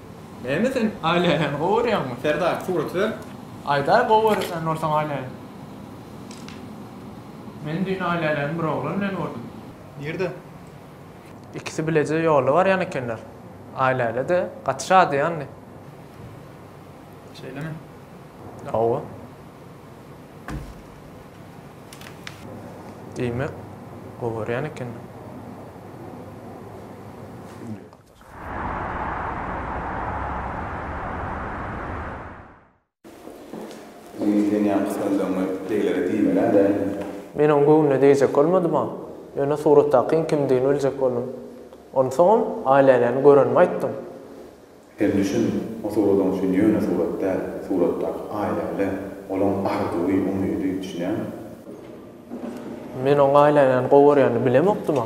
[SPEAKER 1] Näme sen Aýläni gowy görýäňmi Serdar surat ber. Aýdaý gowy görýän bolsaň Aýläni. Men düýn Aýläni bir oglan bilen gördüm. Nirde? Ikisi bileje ýola barýan ekenler. Aýläle-de gaty şadyýandy. Şeýlemi? Hawa. Diýmek, gowy görýän ekenler. Ýüňi sen ýaňky sylandygyňy beýlere diýmelä dälmi? Men oň göwnüne degjek bolmadym-a. Ýöne suratdakyň kimdigini biljek boldum. Onsoňam, Aýlänäni görenimi aýtdym. Sen düşün, o suradyň üçin ýöne surat däl, suratdaky Aýläle, olaň arzuwy, umydy, düşünýäňmi? Men oň Aýlänäni gowy görýänini bilemokdym-a.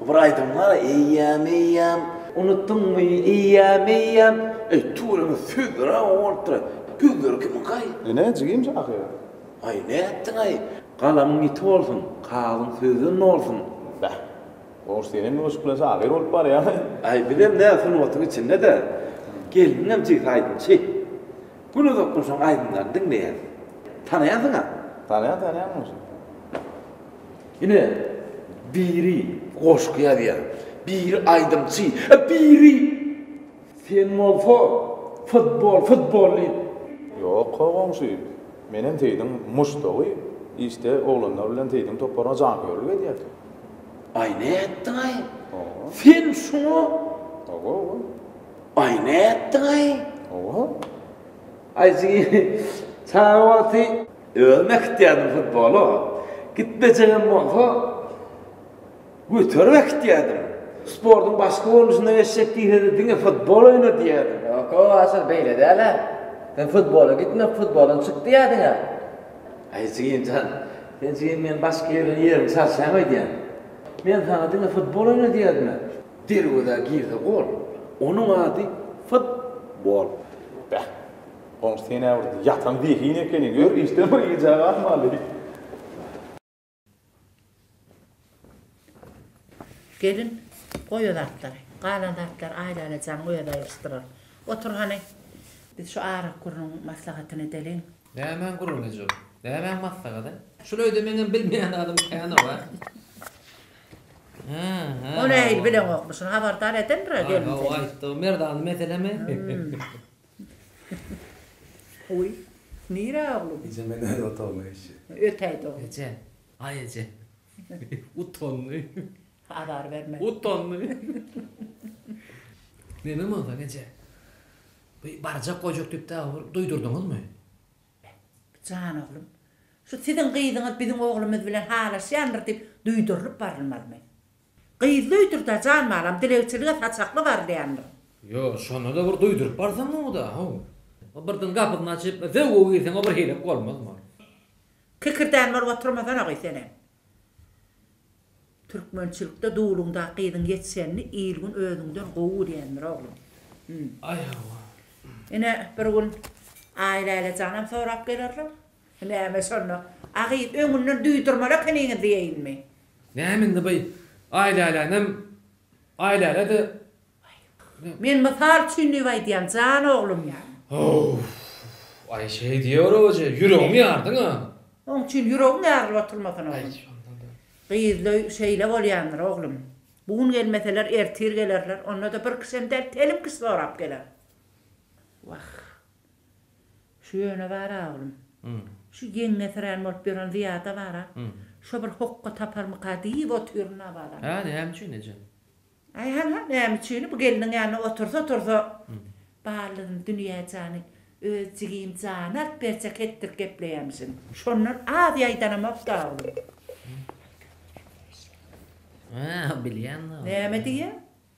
[SPEAKER 1] Bu bir aýdym bar eýýäm eýýäm. Unutdyňmy eýýäm eýýäm. Eý tüweleme sözlere bolupdyr sözleri kimiň kay. Ine jigim şahyr. Aý nätdiňaý galamyň ýiti bolsun kagyzyň sözden nolsun. Bäh. Goş senem ýoşup bilen şahyr bolup barýaňaý. Aý bizem nä sungatyň içindede gelniňem jigsi aýdymçy. Gün uzakdan şoň aýdymlaryny diňleýäs. Tanaýansyňam. Tanaýan tanaýan goşy. Ine, biri goşgy ýazýar, biri aýdymçy, a biri Sen bolsa futbol, futbol diýip. Ýok-a goňşy, menem Seýdiň muşdagy, işde oglanlar bilen Seýdiň toparyna janköýerlik edýärin. Aý nätdiň-aý? Hawa. Sen şuňa? Hawa, hawa. Aý nätdiň-aý? Hawa. Aý siz çaga wagty. Özüm äkitýärdim futbola. Gitmejegem bolsa, göterip äkitýärdim. Sportuň başga görnüşine geçjek diýsede diňe futbol oýna diýerdim. Ýok-ow, Aşyr, beýle däl-ä. Sen futbola gitme, futboldan çyk diýerdiň-ä. Aý, jigim jan, sen jigim meniň başga ýerden ýerimi çalşaýyň öýdýän. Men saňa diňe futbol oýna diýerdim-ä. Derwezä girse gol. Onuň ady futbol. Beh. Goňşy senäwürdi. Ýatan zehin ekeni. Gör, işden bir gijä galmaly. Gelin, goý o zatlary. Galan zatlary Aýlalajaň özi aýryşdyrar. Otur hany. Biz şu arak gürrüň maslahatyny edeliň. Nämäň gürrüňi eje ol? Nämäň maslahady? Şul öýde meňem bilmeýän zadym kän-ow-a. Ony-ä il bileňokmy? Şuny habardar edendir-ä gelin seni. Hawa, aýtdy. Merdany meselemi? Guý. Nirä oglum? Eje men öz otagyma geçýän. Ötäýt oglum. Eje. Aý eje. Utandy. Azar berme. Utandy. Neneň bolsa eje. Bu barjak gojuk diýip dagy bir duýdurdyňyzmy? Jan oglum. Şu siziň gyzyňyz biziň oglumyz bilen halaşýandyr diýip duýdurylyp barylmazmy? Gyzly öýdür-da, jan balam, dilegçilige saçakly barylýandyr. Ýo, şonda-da bir duýduryp barsaň gowy-da, haw. Birden gapysyny açyp, zöwwe girseň-ä bir heýlek bolmazmy ol? Kikirdän bolup oturmasana goý senem. Türkmençilikde duluňdaky gyzyň ýetişenini il-gün özüňden gowy görýändir, oglum. Hum. Aý, hawa. Ine, bir gün Aýläle janam sorap gelerler. Näme şonda, a gyz öňünden duýdurmaly ekeniňiz diýeýinmi? Näme indi by Aýlälänem Aýlälä-de Aý. Men mysal üçin diýip aýdýan, jan oglum. Howw. Aý şeý diýiberoje, ýüregiňi ýardyň-a. Oň üçin ýüregiň ýarylyp oturmasyn, oglum. Gyzly şeýle bolýandyr, oglum. Bu gün gelmeseler, ertir gelerler, onda-da bir kişem däl, telim kişi sorap geler. Wah. Şu ýöne bar-a, oglum, şu ýeňňesirän bolup ýören Zyýada bar-a, şo bir hokga taparmyka diýip otyryn Nabadan. Hä, näme üçin, ejem? Aý, hal-ha, näme üçini, bu gelniň ýanynda otursa-otursa, Baldyn Dünýäjany öz jigim jany alyp berjek hetdir gepleýärmişin. Şondan az ýaýdanamok-da, oglum. Hä, bilýän-de. Näme diýýäň?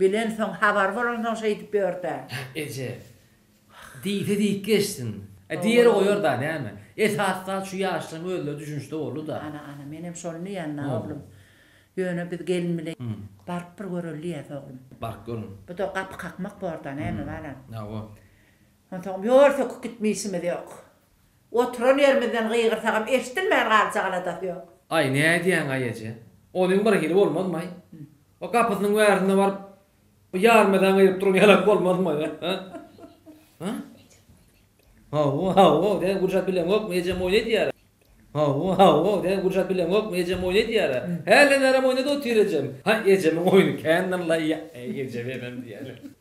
[SPEAKER 1] Bilensoň, habar bolansoň şeýdip ýör-dä. Hah, eje. Diýse diýip geçsin. E, diýeri goýar-da, näme. Esasy zat şu ýaşlaryň özleri düşünişde boldy-da. Ana, ana, menem şony diýýän-dä, oglum. Ýöne biz gelin bilen baryp bir göreli diýýäs, oglum. Baryp görüň. Bu-da gapy kakmak bor-da, näme, balam. Hawa. Onsoňam ýol söküp gitme işimiz ýok. Oturan ýerimizden gygyrsagam eşidilmän galjak aladasy ýok. Aý, nädýäň-aý eje? Onuň bir hili bolmazmy-aý? O gapysynyň bärisine baryp, o ýarmadan gygyryp duran ýalak bolmazmy-aý? Hä? Hawa, hawa, sen gurjap bileňokmy, ejem oýun edýär-ä. Hawa, hawa, sen gurjap bileňokmy, ejem oýun edýär-ä. Hälden bärem oýnady otyr ejem. Haý, ejemiň oýny kändir-laý, aý, eje, menem diýýärin.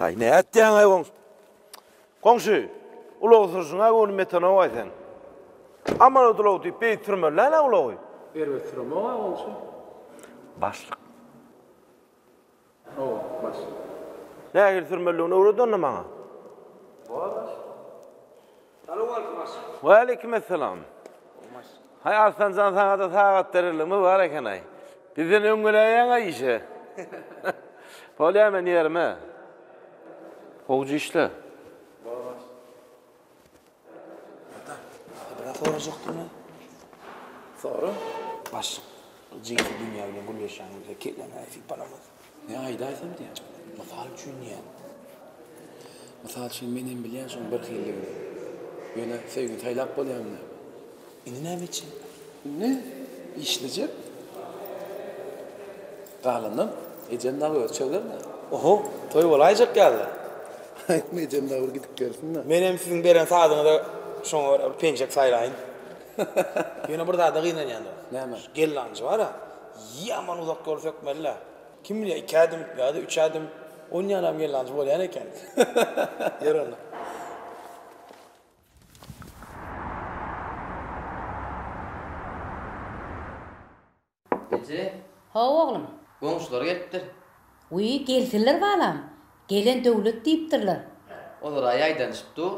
[SPEAKER 1] Ay ne etdiýäň ay goňşy? Goňşy, ulag sürüşiň ay ony metanow ay sen. Aman ulag diýip beýik sürmeliler ulagy. Erbet süremok ay goňşy. Başlyk. Hawa, baş. Nähili sürmelidigini öwret onda maňa. Bor, baş. Salowmaleykum, baş. Waleýkimessalam. Baş. Haý, Arslan jan, saňa-da sagat bereligimiz bar eken-aý. Bizden öň geläýýäň-aý işe. Bolýar, men ýerime. Gowja işle. Bor, baş. Bra sorajakdymy? Sora. Başlyk, jinsi dünýä bilen gürleşýänimizde kelläňi sypalamaz. Ne aýda aýtsam diýýä. Mysal üçin diýýä. Mysal üçin, men hem bilýän şoň birhililigini. Ýöne söýgini saýlap bolýarmy? Indi näme etjek? Indi işlejek. Galanam ejem dagy öz çözermi? Oho, toý bolaýjak ýaly. Aýdym ejem dagy bir gidip gelsin-de. Menem siziň beren sazyňyza şoňa görä bir penjek saýlaýyn. Ýöne bir zada gynanýan-da. Näme? Şu gellanjy bar-a, ýaman uzak ýol sökmeli-le. Kim bilýär, iki ädim ýa-da üç ädim onýanam gellanjy bolýan eken. Ýör onda. Eje. Hawa, oglum. Goňşular gelipdir. Wiý, gelsinler balam. Gelen döwlet diýipdirler. Olar-a ýaýdanyşyp dur.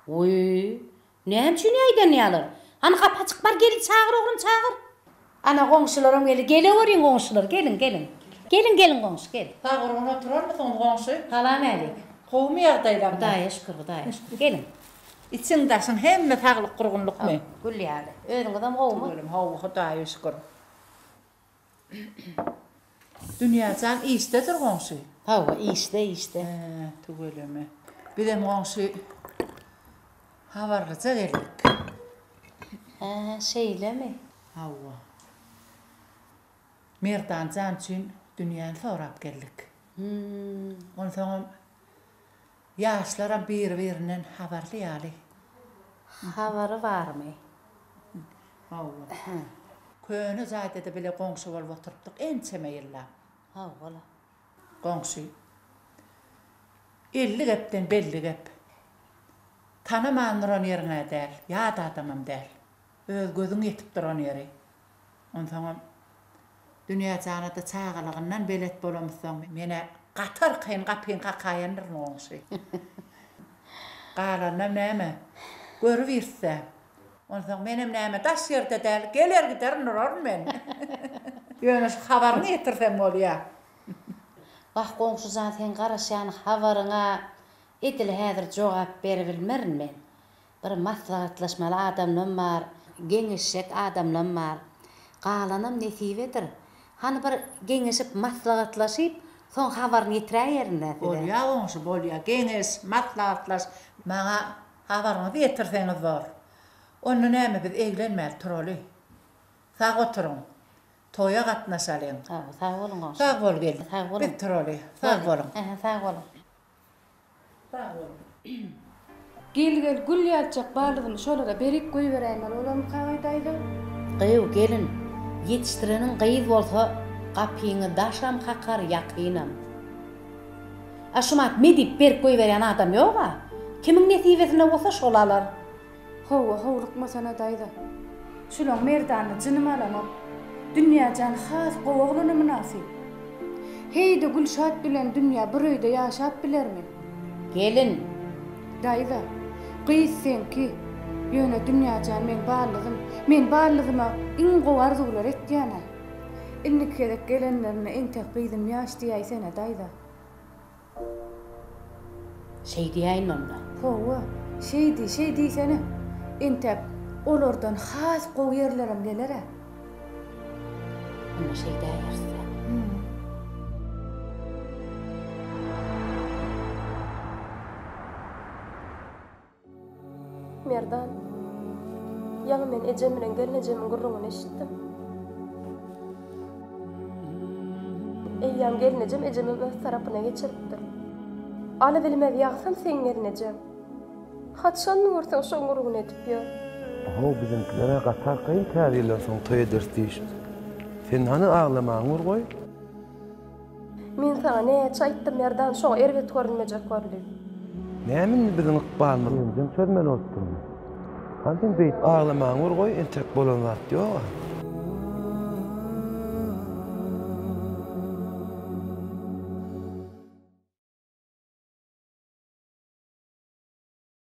[SPEAKER 1] Wiý, näme üçin ýaýdanýarlar? Hany, gapy açyk, bar, gelin çagyr, oglum, çagyr! Ana goňşularam geldi. Geleweriň goňşular, geliň, geliň. Geliň, geliň goňşy, gel. Bagyrgyn oturarmysyňyz goňşy? Salam älik. Gowumy ýagdaýlaryňyz? Hudaýa şükür, Hudaýa şükür. Geliň. Içiň daşyň hemme saglyk gurgunlykmy? Gül ýaly. Özüňizem gowumy? Tüweleme gowy Hudaýa şükür. Dünýäjan işdedir goňşy. Hawa işde işde. He tüweleme. Bizem goňşy habarlyja geldik. He şeýlemi. Hawa. Merdanjan üçin dünýäni sorap geldik. Onsoňam Ýaşlaram biri-birinden habarly ýaly. Habary barmy? Hawa. Köne jaýda-da bile goňşy bolup oturypdyk ençeme ýyllap. Hawa-la. Goňşy. Elli gepden belli gep. Tanaman duran ýeriň-ä däl, ýat adamam däl. Öz gözüň ýetip duran ýeri. Onsoňam, dünýä-janada çagalygyndan belet bolamyzsoň. Men-ä gaty arkaýyn, gapyny kakaýandyr goňşy. Galanynam näme, görübiris-ä. Onsoň menem näme, daş ýerde däl, geler-giderin uraryn men. Ýöne şu habaryňy ýetirseň bolýa. Wah, goňşy jan, seň garaşýan habaryňa edil häzir jogap beribilmerin men. Bir maslahatlaşmaly adamlam bar, geňeşjek adamlam bar. Galanam nesibedir. Hany bir geňeşip, maslahatlaşyp, soň habaryny ýetiräýerin-dä size. Bolýa goňşy, bolýa. Geňeş, maslahatlaş. Maňa habaryňyzy ýetirseňiz bor. Onda näme biz eglenmäli turaly. Sag oturyň. Toýa gatnaşalyň. Sag boluň goňşy. Sag bol gelin. Sag boluň. Biz turaly. Sag boluň. Sag boluň. Sag boluň. Gel gel gül ýalyjak balyzymy şolara berip goýberäýmeli bolarmy Kagy daýza. Gyýw gelin, ýetişdireniň gyz bolsa gapyňy daşam kakar ýakynam. A şumat me diýip berip goýberýän adam ýoga. Kimiň nesibesinde bolsa şol alar. Howwa, howlukmasana daýza. Şulaň merdany jynym alanok. Dünýä jan has gowy oglana mynasyp. Heý-de Gülşat bilen Dünýä bir öýde ýaşap bilermi? Gelin. Daýza. Gyz seňki. Ýöne Dünýä jan meň ballygym. Men ballygyma iň gowy arzuwlary etýän-ä. Indiki gezek gelenlerinde entek gyzym ýaş diýäýsene daýza. Şeý diýäýin onda. Hawa, şeý diý, şeý diýsene. Entek olardan has gowy ýerlerem geler-ä. Onda şeý däýeris-dä. Merdan, Ýaňy men ejem bilen gelnejemiň gürrüňini eşitdim. Eýýäm gelnejem ejemi öz tarapyna geçiripdir. Alybilmez ýagsam seň gelnejeň. Hat şanly görseň şoň gürrüňini edip ýör. Ho, biziňkiler-ä gaty arkaýyn käbirler şoň toý ederis diýişip. Sen hany aglamaňy bir goý. Men saňa näçe aýtdym, Merdan, şoňa erbet görünmejek bol diýip. Näme indi biziň ykbalymyz öňden çözmeli bolup durmy? Hany sen beýdip aglamaňy bir goý, entek bolan zat ýog-a.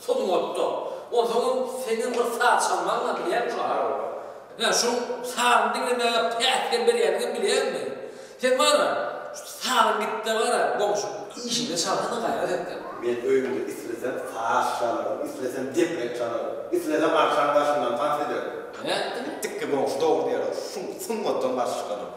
[SPEAKER 1] Sungatda. Onsoňam seni bir saz çalmagyňa bilýän şu araba. Ine şu sazy diňlemäge päsgel berýändigem bilýänmi? Sen maňa şu sazy gitde gara goňşy işinde çalsana gaýrat etden. Men öýümde islesem saz çalaryn, islesem deprek çalaryn, islesem agşam daşyndan tans ederin. Nätdiň? Dikde goňşy dogry diýýär, sungatdan garşy çykanok.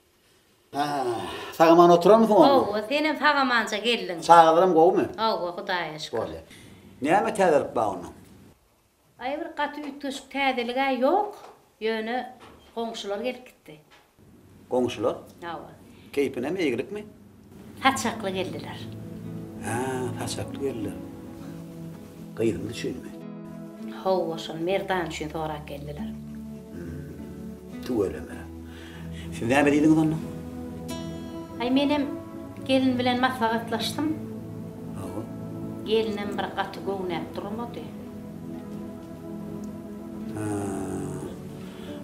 [SPEAKER 1] Haa, sagaman oturanmysyň onda? Howwa, senem sagamanja geldiň. Çagalaram gowumy? Howwa, Hudaýa şükür. Bolýa. Näme täzelik bar onda? Aý, bir gaty üýtgeşik täzelik-ä ýok. Ýöne goňşular gelip gitdi. Goňşular? Howwa. Keýpinem, eýgilikmi? Saçakly geldiler. Hä, saçakly geldiler. Gyzymyz üçinmi? Hawa, şol Merdan üçin sorap geldiler. Hüm, tüweleme. Siz näme diýdiňiz onda? Aý, menem gelin bilen maslahatlaşdym. Hawa. Gelinem bir gaty göwnäp durmady. Hä.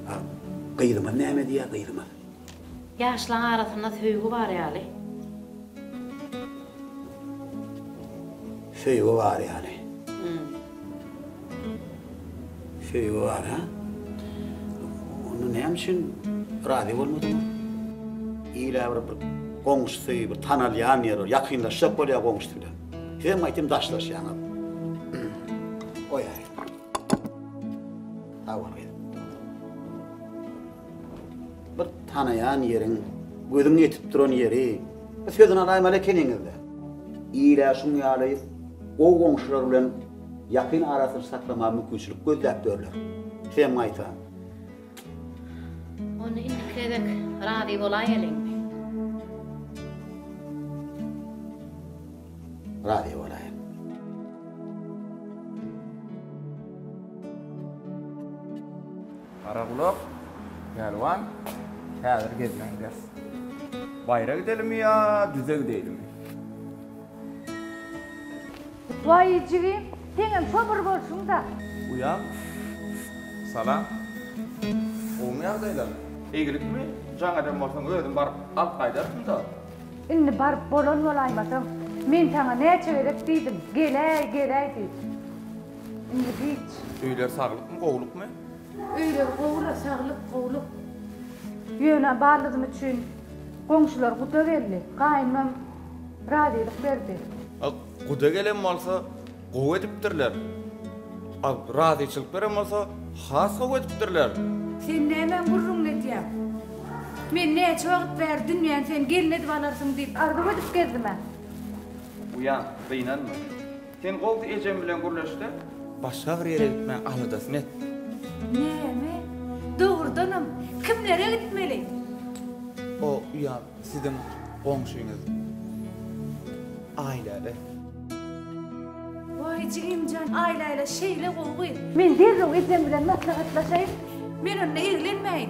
[SPEAKER 1] A gyzymyz näme diýýär, gyzymyz? Ýaşlaň arasynda söýgi bar ýaly. Söýgi bar ýaly. Söýgi bar ha? Onda näme üçin razy bolmadyň? Ýa bir bir goňşusy, bir tanalýan ýeri bar, ýakynlaşjak bolýar goňşusy bilen. Sizem aýtym daşlaşýaňyz. Goýaý. Sag bol gyzym. Bir tanaýan ýeriň, gözüň ýetip duran ýeri, bir sözüni alaýmaly ekeniňiz-dä. Il-ä şuň ýaly gowy goňşular bilen ýakyn arasyny saklamaga mümkinçilik gözläp ýörler. Sem gaýta. Onda indiki gezek razy bolaýeliň. Razy bolaýyň. Garagulak pälwan häzir gezmegiň ders. Baýra gidelimi ýa düze gideýlimi? Waý jigim, seňem şo bir bolşuň-da. Uýam, salam. Gowumy ýagdaýlaryň? Eýgilikmi? Jaň eden bolsaň, özüm baryp alyp gaýdarsyň-da. Indi baryp bolan bolaýmasaň, men saňa näçe gezek diýdim, geläý, geläý diýip. Indi hiç. Öýler saglykmy, gowlukmy? Öýler gowy-la, saglyk, gowluk. Ýöne baldym üçin goňşular guda geldi. Gaýynymam razylyk berdi. A guda gelen bolsa, gowy edipdirler. A razyçylyk beren bolsa, has gowy edipdirler. Sen nämäň gürrüňini edýäň? Men näçe wagt bäri Dünýäni sen gelin edip alarsyň diýip arzuw edip gezdim-ä. Uýam, gynanma. Sen gows ejem bilen gürleşde. Başga bir ýere gitmäň aladasyny et. Näme? Dogrudanam, kimlere gitmeli? O uýam siziň goňşyňyz Aýläle. Waý jigimjan, Aýläle şeýle gowy gyz. Men derrew ejem bilen maslahatlaşaýyn. Men onda eglenmäýin.